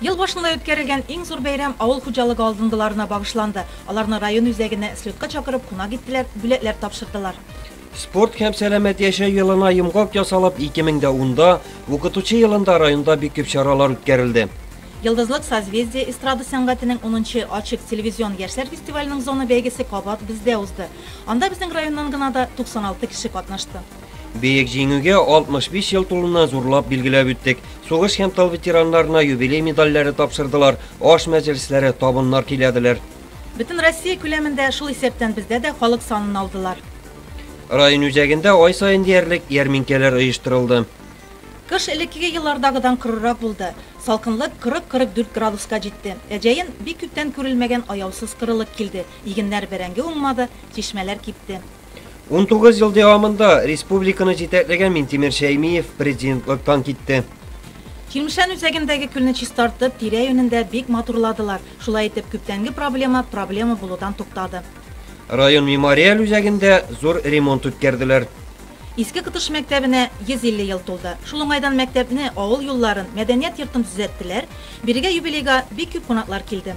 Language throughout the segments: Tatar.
Ел башында үткәрелгән иң зур бәйрәм авыл хуҗалыгы алдынгыларына багышланды. Аларны район үзәгенә слетка чакырып, кунак иттеләр, бүләкләр тапшырдылар. Спорт һәм сәламәт яшәү елына йомгак ясалып, 2010 да, Укытучы елында районда бик күп чаралар үткәрелде. Йолдызлык созвездие эстрада сәнгатенең унынчы Ачык телевизион яшьләр фестиваленең зона бәйгесе кабат бездә узды. Анда безнең районнан гына да 96 кеше катнашты. Бөек Җиңүгә 65 ел тулуны зурлап билгеләп үттек. Сугыш һәм тыл ветераннарына юбилей медальләре тапшырдылар, аш мәҗлесләре, табыннар көйләделәр. Бөтен Россия күләмендә, шул исәптән бездә дә халык санын алдылар. Район үзәгендә ай саен диярлек ярминкәләр оештырылды. Кыш элеккеге еллардагыдан корырак булды. Салкынлык 40-44 градуска җитте. Ә җәен бик күптән күрелмәгән аяусыз корылык килде, игеннәр бәрәңге уңмады, чишмәләр кипте. 19 ел дәвамында республиканы җитәкләгән Минтимер Шәймиев президентлыктан китте. Чирмешән үзәгендәге көлне чистартып, тирә-юнен дә бик матурладылар. Шулай итеп, күптәнге проблема проблема булудан туктады. Район мемориаль үзәгендә зур ремонт үткәрделәр. Иске Кытыш мәктәбенә 150 ел тулды. Шул уңайдан мәктәпне, авыл юлларын, мәдәният йортын төзәттеләр. Бирегә юбилейга бик күп кунаклар килде.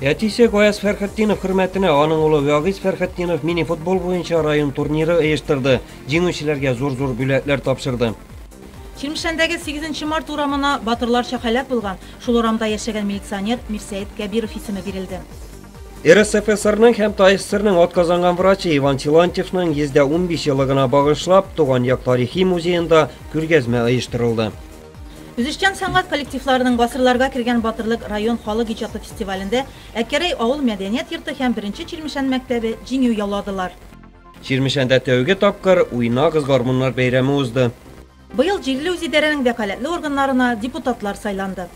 Әтисе Гаяз Фәрхетдинов хөрмәтенә аның улы Вагиз Фәрхетдинов мини-футбол буенча район турниры оештырды. Җиңүчеләргә зур-зур бүләкләр тапшырды. Чирмешәндәге 8 март урамына батырларча һәлак булган, шул урамда яшәгән милиционер Мирсәет Кәбиров исеме бирелде. РСФСРның һәм ТАССРның атказанган врачы Иван Силантьевның 115 еллыгына багышлап, туган як тарихи музеенда күргәзмә оештырылды. Үзешчән сәнгать коллективларының Гасырларга кергән батырлык район халык иҗаты фестивалендә Әкерәй авыл мәдәният йорты һәм Беренче Чирмешән мәктәбе җиңү яуладылар. Чирмешәндә тәүге тапкыр Уйнагыз гармуннар бәйрәме узды. Быел җирле үзидарәнең вәкаләтле органнарына депутатлар сайланды.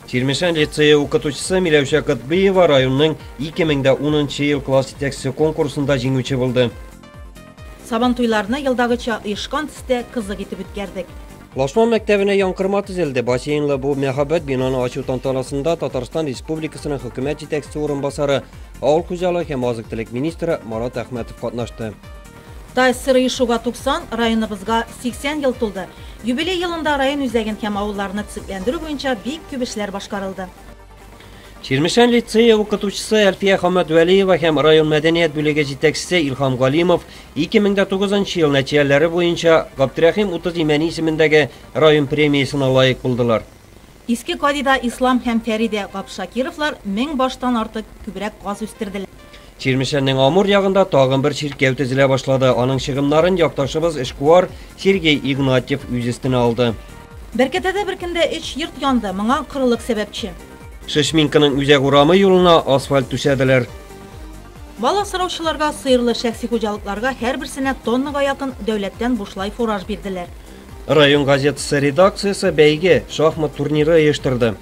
Чирмешән лицее укытучысы Миләүшә Котбыева районның 2010 нчы ел класс җитәкчесе конкурсында җиңүче булды. Сабантуйларны елдагыча оешкан төстә кызык итеп үткәрдек. Лашман мәктәбенә янкырма төзелде. Бассейнлы бу мәһабәт бинаны ачу тантанасында Татарстан Республикасының хөкүмәт җитәкчесе урынбасары, авыл хуҗалыгы һәм азык-төлек министры Марат Әхмәтов катнашты. ТАССР оешуга 90, районыбызга 80 ел тулды. Юбилей елында район үзәген һәм авылларны төзекләндерү буенча бик күп эшләр башкарылды. Чирмешән лицее укытучысы Әлфия Хаммәтвәлиева һәм район мәдәният бүлеге җитәкчесе Илхам Галимов 2009 ел нәтиҗәләре буенча Габдрәхим Утыз Имәни исемендәге район премиясенә лаек булдылар. Иске Кадида Ислам һәм Фәридә Габшакировлар мең баштан артык күбрәк каз үстерделәр. Чирмешәннең Амур ягында тагын бер чиркәү төзелә башлады. Аның чыгымнарын якташыбыз эшкуар Сергей Игнатьев үз өстенә алды. Бәркәтәдә бер көндә өч йорт янды, моңа корылык сәбәпче. Шешминканың үзәк урамы юлына асфальт түшәделәр. Бал асраучыларга, сыерлы шәхси хуҗалыкларга һәрберсенә тоннага якын дәүләттән бушлай фураж бирделәр. Район газетасы редакциясе бәйге, шахмат турниры оештырды.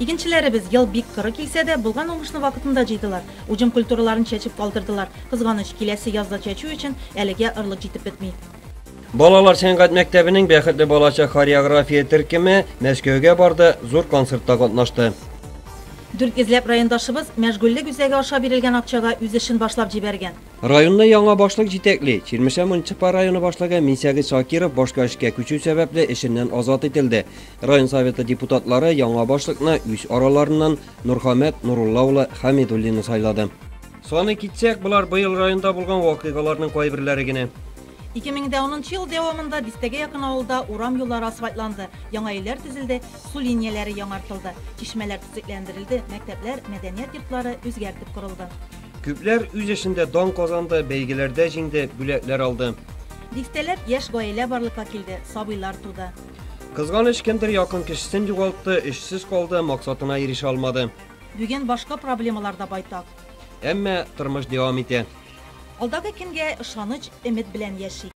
Игенчеләребез, ел бик коры килсә дә, булган уңышны вакытында җыйдылар. Уҗым культураларын чәчеп калдырдылар. Кызганыч, киләсе язда чәчү өчен әлегә орлык җитеп бетми. Балалар сәнгать мәктәбенең Бәхетле балачак хореография төркеме Мәскәүгә барды, зур концертта катнашты. Дүрт йөзләп райондашыбыз мәшгульлек үзәге аша бирелгән акчага үз эшен башлап җибәргән. Районны яңа башлык җитәкли. Чирмешән муниципаль районы башлыгы Минсәгыйть Шакиров башка эшкә күчү сәбәпле эшеннән азат ителде. Район Советы депутатлары яңа башлыкны үз араларыннан Нурхамәт Нурулла улы Хәмидуллинны сайлады. Саный китсәк, болар быел районда булган вакыйгаларның кайберләре генә. 2010 нчы ел дәвамында дистәгә якын авылда урам юллары асфальтланды, яңа өйләр төзелде, су линияләре яңартылды, чишмәләр төзекләндерелде, мәктәпләр, мәдәният йортлары үзгәртеп корылды. Күпләр үз эшендә дан казанды, бәйгеләрдә җиңде, бүләкләр алды. Дистәләп яшь гаилә барлыкка килде, сабыйлар туды. Кызганыч, кемдер якын кешесен югалтты, эшсез калды, максатына ирешә алмады. Бүген башка проблемалар да байтак. Әмма тормыш дәвам итә. Алдагы көнгә ышаныч, өмет белән яшик.